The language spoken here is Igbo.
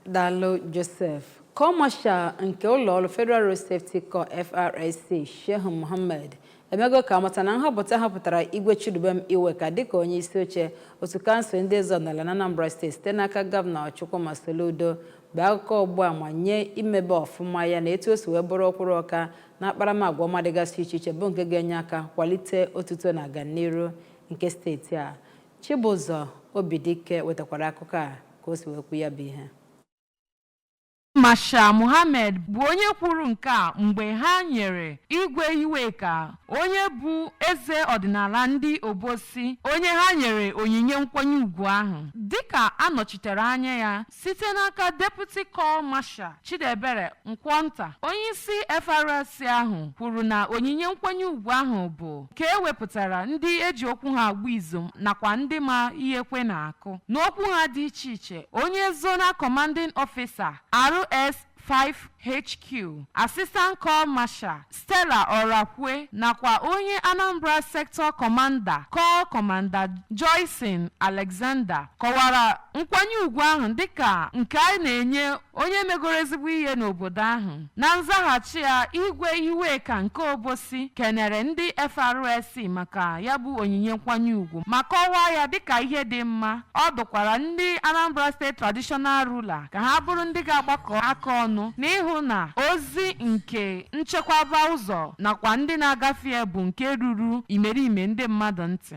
Daalụ Joseph. Corps Marshal nke ụlọọrụ Federal Road Safety Corps FRSC Shehu Mohammed emego ka amata na nhọpụta a họpụtara Igwe Chidubem Iweka dịka onye isi oche otu kansụl ndị eze ọdịnala na Anambra steeti site n'aka gọvanọ Chukwuma Soludo bụ akụkọ ọgba ama nye imebe ọfụma ya na etu o si wee bụrụ ọkwụrụ ọka na akparamagwa ọma dịgasị iche iche bụ nke ga-enye aka kwalite otuto na aganiru nke steeti a Chibụzọ Obidike wetakwara akụkọ a ka o si wee kwu ya bụ ihe. Marshal Mohammed bụ onye kwuru nke a mgbe ha nyere Igwe Iweka onye bụ eze ọdịnala ndị Obosi onye ha nyere onyinye nkwanye ugwu ahụ dịka a nọchitere anya ya site n'aka Deputy Corps Marshal Chidiebere Nkwọnta onyeisi FRSC ahụ kwuru na onyinye nkwanye ugwu ahụ bụ nke e wepụtara ndị e ji okwu ha agba izu nakwa ndị ma ihe ekwe na-akụ n'okwu ha dị iche iche onye Zonal Commanding Officer RS 5HQ, Assistant Corps Marshal Stella Orakwe nakwa onye Anambra Sector Commander Corps Commander Joyce Alexander kọwara nkwanye ugwu ahụ dịka nke a na-enye onye megoro ezigbo ihe n'obodo ahụ na nzaghachi ya Igwe Iweka nke Obosi kenere ndị FRSC maka ya bụ onyinye nkwanye ugwu ma kọwaa ya dịka ihe dị mma Ọ dụkwara ndị Anambra State Traditional Ruler ka ha bụrụ ndị ga-agbakọ aka ọnụ n'ịhụ na ozi nke nchekwaba ụzọ nakwa ndị na-agafe ya bụ nke ruru imerime ndị mmadụ ntị.